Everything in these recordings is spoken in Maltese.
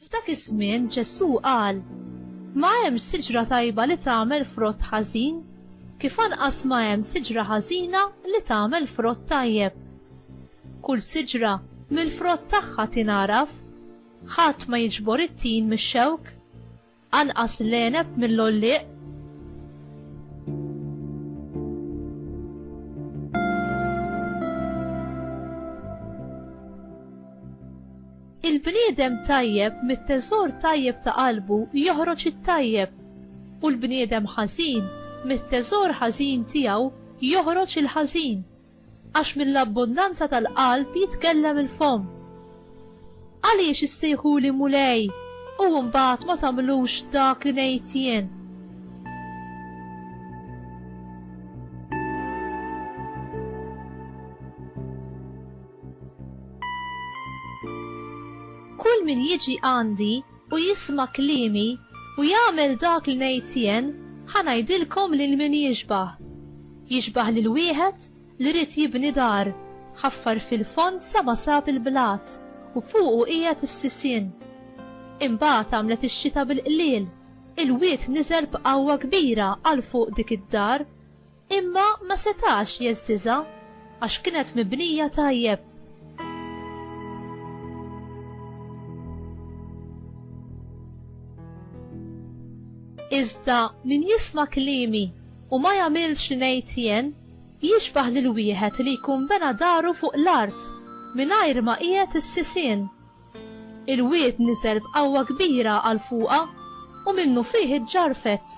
F'dak iż-żmien Ġesù qal, Ma hemm siġra tajba li tagħmel frott ħażin, kif anqas ma hemm siġra ħażina li tagħmel frott tajjeb. Kull siġra mill-frott tagħha tingħaraf. Ħadd ma jiġbor it-tin mix-xewk. Anqas l-għeneb mill-għollieq. Il-bniedem tajjeb mit-teżor tajjeb ta' qalbu joħroġ it-tajjeb, u l-bniedem ħażin mit-teżor ħażin tiegħu joħroġ il-ħażin. Għax mill-abbundanza tal-qalb jitkellem il-fomm. Għaliex issejħuli Mulej u mbagħad ma tagħmlux dak li ngħid jien? Kull min jiġi għandi u jisma' kliemi, u jagħmel dak li ngħid jien, ħa ngħidilkom lil min jixbah. Jixbah lil wieħed li ried jibni dar, ħaffar fil-fond sa ma sab il-blat, u fuqu qiegħed is-sisien. Imbagħad għamlet ix-xita bil-qliel, il-wied niżel b'qawwa kbira għal fuq dik id-dar, Imma ma setax jeżżiżha għax kienet mibnija tajjeb. Iżda min jisma' kliemi u ma jagħmilx li ngħid jien, jixbah lil wieħed li jkun bena daru fuq l-art mingħajr ma qiegħed is-sisien. Il-wied niżel b'qawwa kbira għal fuqha u minnufih iġġarfet.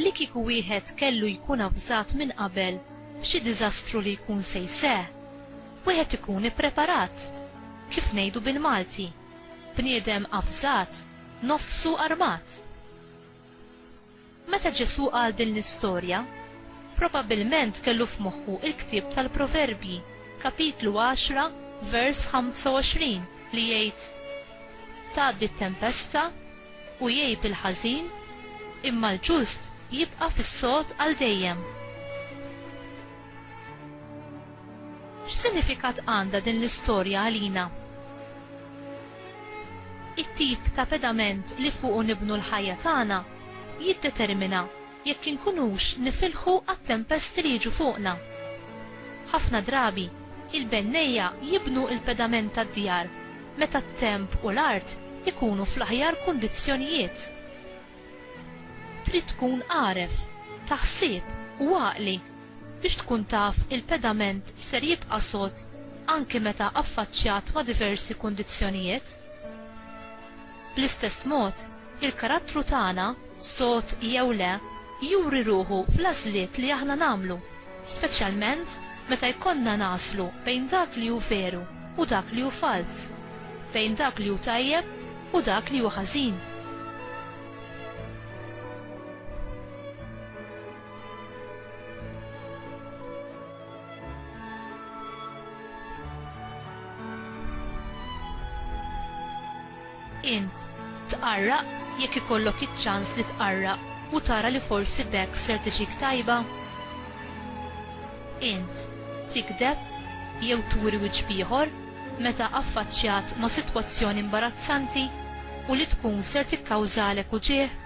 Li kieku wieħed kellu jkun avżat minn qabel b'xi diżastru li jkun se jseħħ, wieħed ikun ippreparat. Kif ngħidu bil-Malti, bniedem avżat, nofsu armat. Meta Ġesù qal din l-istorja, probabbilment kellu f'moħħu l-ktieb tal-Proverbji, kapitlu 10, vers 25, li jgħid, Tgħaddi t-tempesta, u jgħib il-ħażin, imma l-ġust jibqa' fis-sod għal dejjem. X'sinifikat għandha din l-istorja għalina? It-tip ta' pedament li fuqu nibnu l-ħajja tagħna jiddetermina jekk inkunux nifilħu għat-tempesti li jiġu fuqna. Ħafna drabi, il-bennejja jibnu l-pedament tad-djar meta t-temp u l-art ikunu fl-aħjar kundizzjonijiet. Trid tkun għaref, ta' ħsieb u għaqli biex tkun taf il-pedament ser jibqa' sod anki meta affaċċjat ma' diversi kundizzjonijiet. Bl-istess mod, il-karattru tagħna, sod jew le, juri ruħu fl-għażliet li aħna nagħmlu, speċjalment meta jkollna nagħżlu bejn dak li hu veru u dak li hu falz, bejn dak li hu tajjeb u dak li hu ħażin. Int tqarraq jekk ikollok iċ-ċans li tqarraq u tara li forsi b'hekk ser tiġik tajba? Int tikdeb jew turi wiċċ b'ieħor meta affaċċjat ma' sitwazzjoni imbarazzanti u li tkun ser tikkawżalek uġigħ?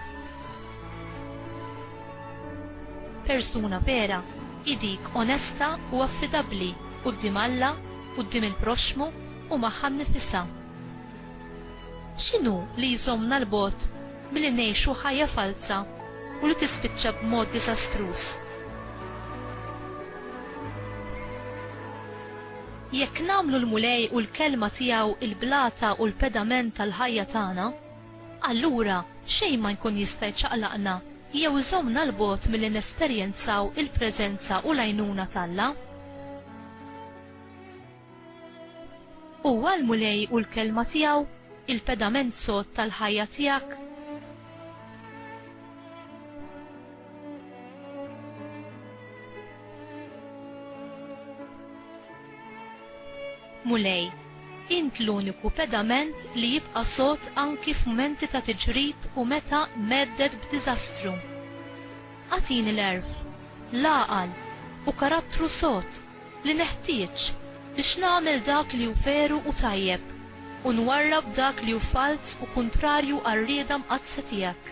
Persuna vera hi dik onesta u affidabbli quddiem Alla, quddiem il-proxxmu u magħha nnifisha. X'inhu li jżommna 'l bogħod milli ngħixu ħajja falza u li tispiċċa b'mod diżastruż? Jekk nagħmlu l-Mulej u l-Kelma tiegħu l-blata u l-pedament tal-ħajja tagħna, allura xejn ma jkun jista' jċaqlaqna jew iżommna 'l bogħod milli nesperjenzaw il-preżenza u l-għajnuna t'Alla. Huwa l-Mulej u l-Kelma tiegħu, il-pedament sod tal-ħajja tiegħek. Mulej, int l-uniku pedament li jibqa' sod anki f'mumenti ta' tiġrib u meta mhedded b'diżastru. Agħtini l-għerf, l-għaqal, u karattru sod li neħtieġ biex nagħmel dak li hu veru u tajjeb u nwarrab dak li hu falz u kuntrarju għar-rieda mqaddsa tiegħek.